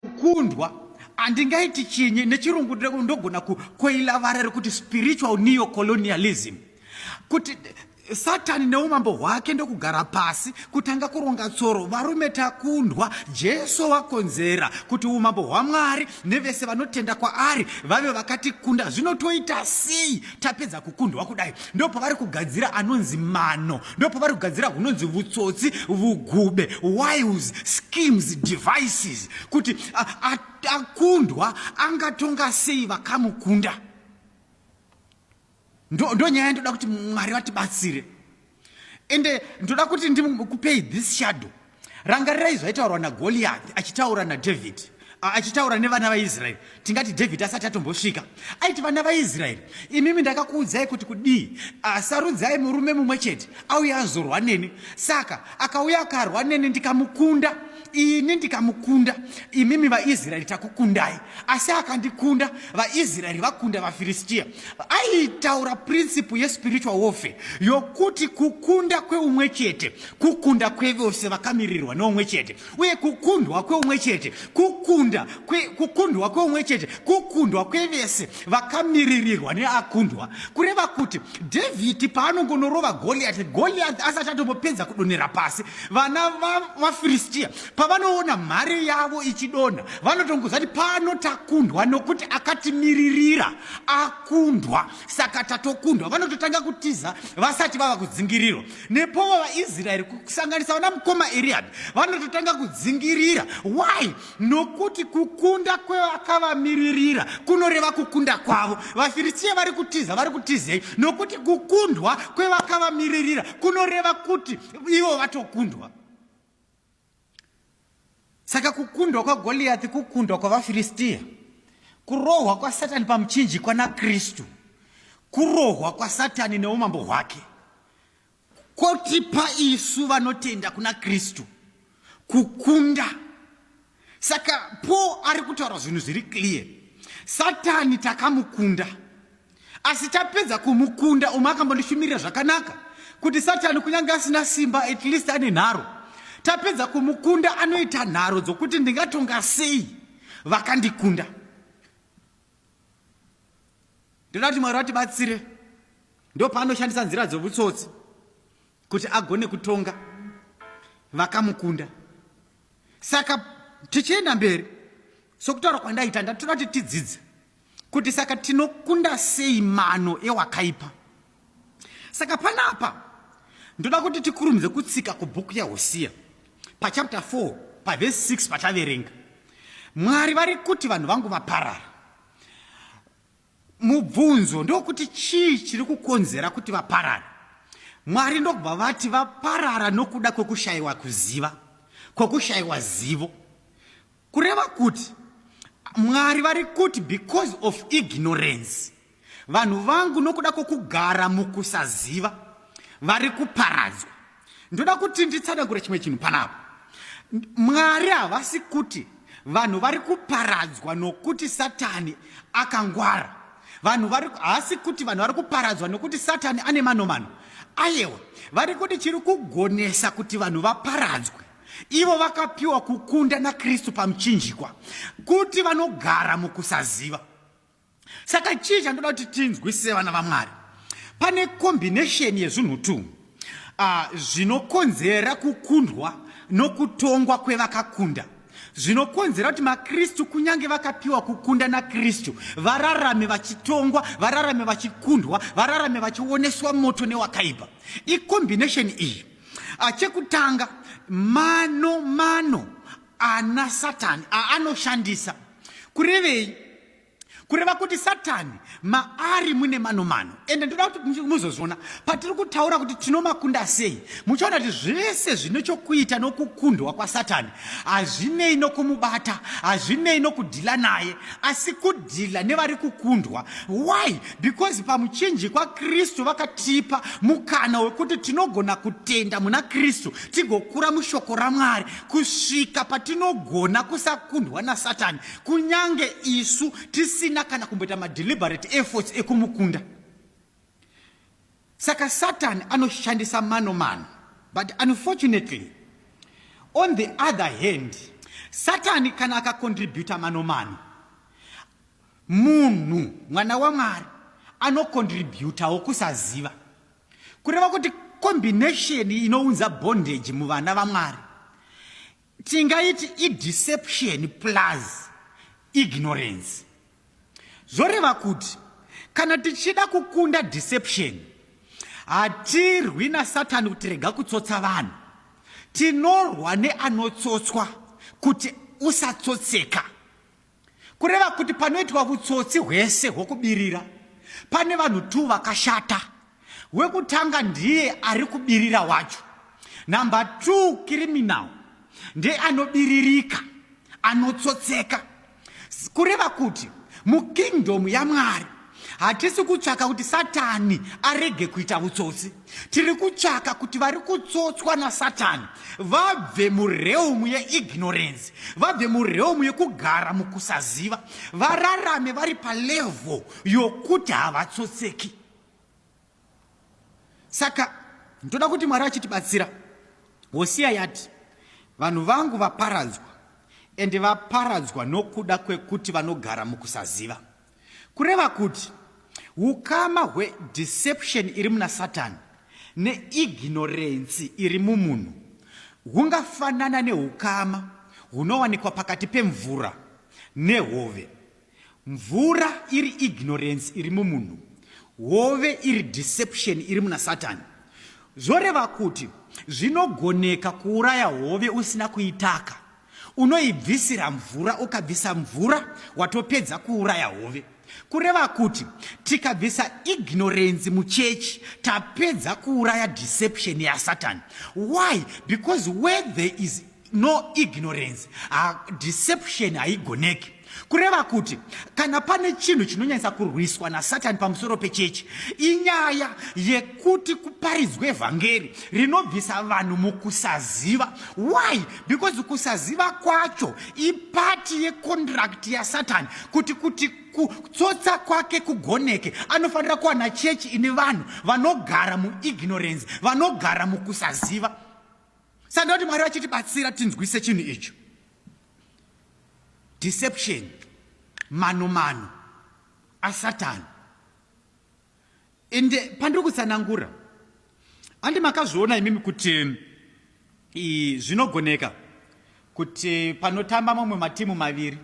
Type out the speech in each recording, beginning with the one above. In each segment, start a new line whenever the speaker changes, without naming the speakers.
kukundwa handingaiti chinyi nechirungu ndogona kukoila vara rekuti spiritual neocolonialism kuti satani neumambo hwake ndokugara pasi kutanga kuronga tsoro varume takundwa jesu wakonzera kuti umambo hwamwari nevese vanotenda kwaari vave vakatikunda zvinotoita sei tapedza kukundwa kudai ndopavari kugadzira anonzi mano ndopavari kugadzira hunonzi vutsotsi vugube wiles schemes devices kuti akundwa angatonga sei vakamukunda ndonyaya ndoda kuti mwari vatibatsire ende ndoda kuti ndikupei this shadow Rangarirai zvaitaurwa naGoliath achitaura naDavid achitaura nevana vaIsraeri tingati David asati atombosvika aiti vana vaIsraeri imimi ndakakuudzai kuti kudii sarudzai murume mumwe chete auya azorwa neni saka akauya akarwa neni ndikamukunda ini ndikamukunda imimi vaIsraeri takukundai asi akandikunda vaIsraeri vakunda vaFiristia aitaura principle yespiritual warfare yokuti kukunda kweumwe chete Kukunda kwevose vakamirirwa neumwe chete, uye kukundwa kweumwe chete, kukunda kwe, kukundwa kweumwe chete, kukundwa kwevese vakamiririrwa neakundwa, kureva kuti Dhavhidhi paanongonorova Goliati, Goliati asati atombopedza kudonhera pasi, vana vafiristiya va pavanoona mhare yavo ichidonha, vanotongoziva kuti pano takundwa nokuti akatimiririra akundwa, saka tatokundwa. Vanototanga kutiza vasati vava kudzingirirwa. nepo vavaisraeri kusanganisa vana mukoma eriad vanototanga kudzingirira why nokuti kukunda kwevakavamiririra kunoreva kukunda kwavo vafiristiya vari kutiza vari kutizei nokuti kukundwa kwevakavamiririra kunoreva kuti ivo vatokundwa Saka kukundwa kwaGoliathi kukundwa kwavaFiristia, kurohwa kwaSatani pamuchinjikwa naKristu, kurohwa kwaSatani neumambo hwake kotipa isu vanotenda kuna Kristu kukunda. Saka Paul ari kutaura zvinhu zviri clear, Satani takamukunda. Asi tapedza kumukunda umwe akambondishumirira zvakanaka kuti satani kunyange asina simba at least ane nharo. Tapedza kumukunda anoita nharo dzokuti ndingatonga sei vakandikunda. Ndoda kuti Mwari vatibatsire ndopaanoshandisa nzira dzovutsotsi kuti agone kutonga vakamukunda. Saka tichienda mberi sokutaura kwandaita ndatoda kuti tidzidze kuti saka tinokunda sei mano ewakaipa saka panapa ndoda kuti tikurumidze kutsika kubhuku yahosiya pachapta 4 pavhesi 6 pataverenga mwari vari kuti vanhu vangu vaparara mubvunzo ndokuti chii chiri kukonzera kuti vaparara mwari ndokubva vati vaparara nokuda kwokushayiwa kuziva kwokushayiwa zivo Kureva kuti Mwari vari kuti because of ignorance vanhu vangu nokuda kwokugara mukusaziva vari kuparadzwa. Ndoda kuti nditsanangure chimwe chinhu panapa. Mwari havasi kuti vanhu vari kuparadzwa nokuti Satani akangwara. Vanhu vari haasi kuti vanhu vari kuparadzwa nokuti Satani ane manomano. Ayewa, vari kuti chiri kugonesa kuti vanhu vaparadzwe. Ivo vakapiwa kukunda naKristu pamuchinjikwa kuti vanogara mukusaziva. Saka chii chandoda kuti tinzwisise vana vaMwari? Pane kombinesheni yezvinhu tu ah, zvinokonzera kukundwa nokutongwa kwevakakunda zvinokonzera kuti makristu kunyange vakapiwa kukunda nakristu vararame vachitongwa vararame vachikundwa vararame vachioneswa moto newakaipa ikombinesheni iyi Ah, chekutanga mano mano ana satani aanoshandisa kurevei kureva kuti satani maari mune mano mano ende ndoda kuti muzozviona patiri kutaura kuti tinomakunda sei muchaona kuti zvese zvine chokuita nokukundwa kwasatani hazvinei nokumubata hazvinei nokudhila naye asi kudhila nevari kukundwa why Because pamuchinjikwa Kristu vakatipa mukana wekuti tinogona kutenda muna Kristu tigokura mushoko raMwari kusvika patinogona kusakundwa naSatani kunyange isu tisina kana kumboita madeliberate efforts ekumukunda. Saka Satani anoshandisa mano mano but unfortunately on the other hand Satani kana akakontributa mano mano Munhu, mwana waMwari, anocontributawo kusaziva. Kureva kuti combination inounza bondage muvana vaMwari tingaiti ideception plus ignorance. Zvoreva kuti kana tichida kukunda deception hatirwi nasatani kuti rega kutsotsa vanhu tinorwa neanotsotswa kuti usatsotseka Kureva kuti panoitwa vutsotsi hwese hwokubirira pane vanhu tu vakashata. Wekutanga ndiye ari kubirira wacho. Number two criminal ndiye anobiririka, anotsotseka. Kureva kuti mukingdom yaMwari Hatisi kutsvaka kuti Satani arege kuita utsotsi. Tiri kutsvaka kuti vari kutsotswa naSatani vabve mureum yeignorance, vabve mureum yekugara mukusaziva, vararame vari palevho yokuti havatsotseki. Saka ndoda kuti Mwari achitibatsira. Hosiya yati, vanhu vangu vaparadzwa, ende vaparadzwa nokuda kwekuti vanogara mukusaziva. Kureva kuti ukama hwedeception iri muna Satani neignorensi iri mumunhu hungafanana neukama hunowanikwa pakati pemvura nehove. Mvura iri ignorensi iri mumunhu, hove iri deception iri muna Satani. Zvoreva kuti zvinogoneka kuuraya hove usina kuitaka Unoibvisira mvura, ukabvisa mvura watopedza kuuraya hove. Kureva kuti tikabvisa ignorance muchechi tapedza kuuraya deception yaSatan. Why? Because where there is no ignorance, uh, deception haigoneki. Kureva kuti kana pane chinhu chinonyanyisa kurwiswa naSatani pamusoro pechechi inyaya yekuti kuparidzwe evhangeri rinobvisa vanhu mukusaziva. Why? Because kusaziva kwacho ipati yekondirakiti yaSatani kuti kuti kutsotsa kwake kugoneke anofanira kuwana chechi ine vanhu vanogara muignorance, vanogara mukusaziva. Saka ndoti Mwari vachitibatsira tinzwise chinhu icho. Deception, mano mano asatani. Ende pandiri kutsanangura, andi makazviona imimi kuti zvinogoneka kuti panotamba mamwe matimu maviri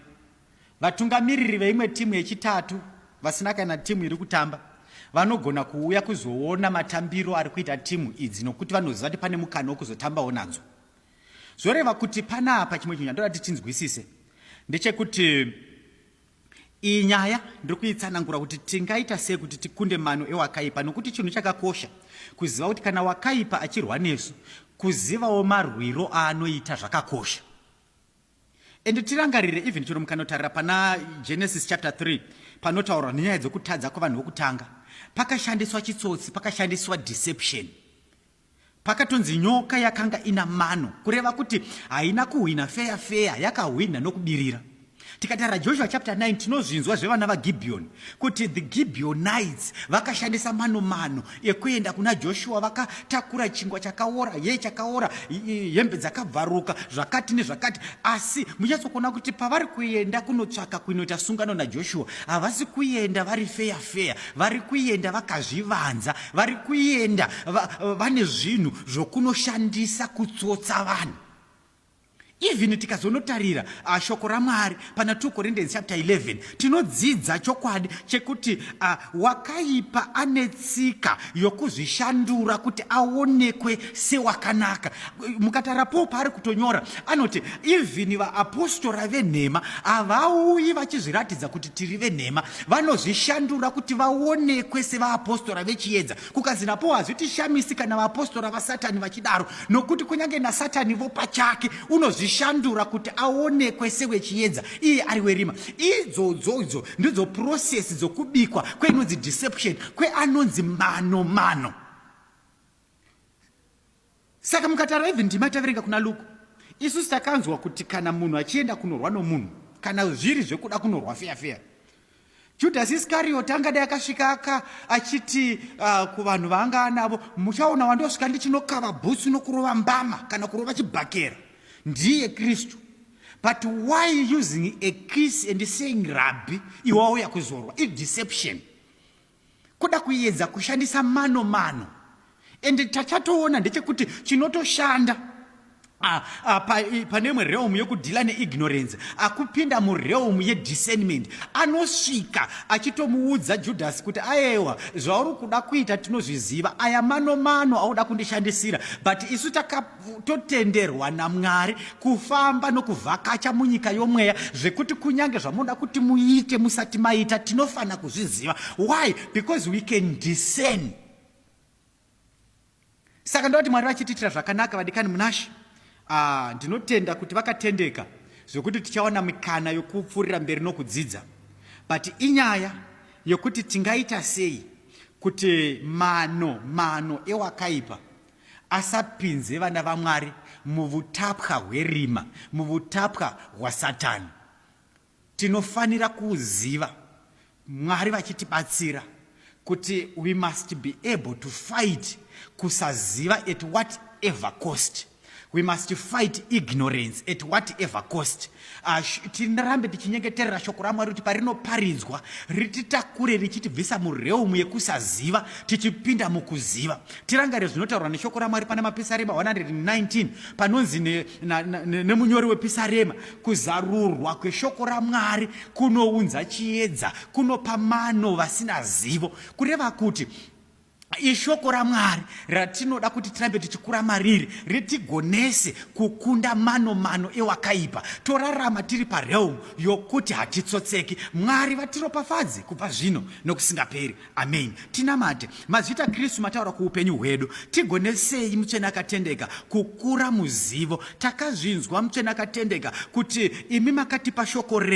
vatungamiriri veimwe timu yechitatu vasina kana timu iri kutamba vanogona kuuya kuzoona matambiro ari kuita timu idzi nokuti vanoziva kuti pane mukana wekuzotambawo nadzo. Zvoreva kuti panapa chimwe chinhu chandoda kuti tinzwisise ndechekuti iyi nyaya ndiri kuitsanangura kuti tingaita sei kuti tikunde mano ewakaipa nokuti chinhu chakakosha kuziva kuti kana wakaipa achirwa nesu kuzivawo marwiro aanoita zvakakosha and tirangarire even chero mukanotarira pana genesis chapter 3 panotaurwa nenyaya dzokutadza kwevanhu vokutanga pakashandiswa chitsotsi pakashandiswa deception Pakatonzi nyoka yakanga ina mano, kureva kuti haina kuhwina feya feya, yakahwina nokubirira. Tikatara Joshua chapter 9 tinozvinzwa zvevana vaGibeoni kuti the Gibeonites vakashandisa mano mano ekuenda kuna Joshua vakatakura chingwa chakaora, ye chakaora, hembe dzakabvaruka, zvakati nezvakati. Asi munyatsokuona kuti pavari kuenda kunotsvaka kuinoita sungano naJoshua, havasi kuenda vari feya feya, vari kuenda vakazvivanza. vari kuenda vane va, zvinhu zvokunoshandisa kutsotsa vanhu even tikazonotarira uh, shoko ramwari pana 2 corinthians chapter 11 tinodzidza chokwadi chekuti uh, wakaipa ane tsika yokuzvishandura kuti aonekwe sewakanaka mukatara paul paari kutonyora anoti even vaapostora venhema havauyi vachizviratidza kuti tiri venhema vanozvishandura kuti vaonekwe sevaapostora vechiedza kukanzi napo hazvitishamisi kana vaapostora vasatani vachidaro nokuti kunyange nasatani vo pachake unozvishandura kuti aonekwe sewechiedza iye ari werima idzodzo idzo ndidzo purosesi dzokubikwa kweinonzi deception kweanonzi mano mano Saka mukatara even ndima taverenga kuna Luke isu takanzwa kuti kana munhu achienda kunorwa nomunhu kana zviri zvekuda kunorwa feya feya Judas Iscariot angadai akasvika aka achiti uh, kuvanhu vaanga anavo muchaona wandosvika ndichinokava bhutsu nokurova mbama kana kurova chibhakera ndiye Kristu but why using a kiss and saying rabbi iwauya kuzorwa i deception Kuda kuedza kushandisa mano mano and tachatoona ndechekuti chinotoshanda ah, ah, pane imwe realm yekudhila neignorance akupinda murealm yediscernment anosvika achitomuudza judhasi kuti ayewa zvauri kuda kuita tinozviziva aya mano mano auda kundishandisira but isu takap totenderwa namwari kufamba nokuvhakacha munyika yomweya zvekuti kunyange zvamunoda kuti muite musati maita tinofanira kuzviziva why because we can discern saka ndokuti mwari vachitiitira zvakanaka vadikani munashe ah, ndinotenda uh, kuti vakatendeka zvekuti tichawana mikana yokupfuurira mberi nokudzidza but inyaya yokuti tingaita sei kuti mano mano ewakaipa asapinze vana vaMwari muvutapwa hwerima, muvutapwa hwaSatani. Tinofanira kuuziva, Mwari vachitibatsira, kuti we must be able to fight kusaziva at whatever cost. We must fight ignorance at whatever cost. Ah, tirambe tichinyengeterera shoko ramwari kuti parinoparidzwa rititakure richitibvisa mureumu yekusaziva tichipinda mukuziva tirangare zvinotaurwa neshoko ramwari pana mapisarema 119 panonzi nemunyori ne, ne, wepisarema kuzarurwa kweshoko ramwari kunounza chiedza kunopa mano vasina zivo kureva kuti Ishoko raMwari ratinoda kuti tirambe tichikura mariri ritigonese kukunda mano mano ewakaipa torarama tiri parealm yokuti hatitsotseki. Mwari vatiropafadze kubva zvino nokusingaperi. Amen. Tinamate. Mazvita Kristu mataura kuupenyu hwedu. Tigonesei mutsvene akatendeka kukura muzivo. Takazvinzwa mutsvene akatendeka kuti imi makatipa shoko renyu.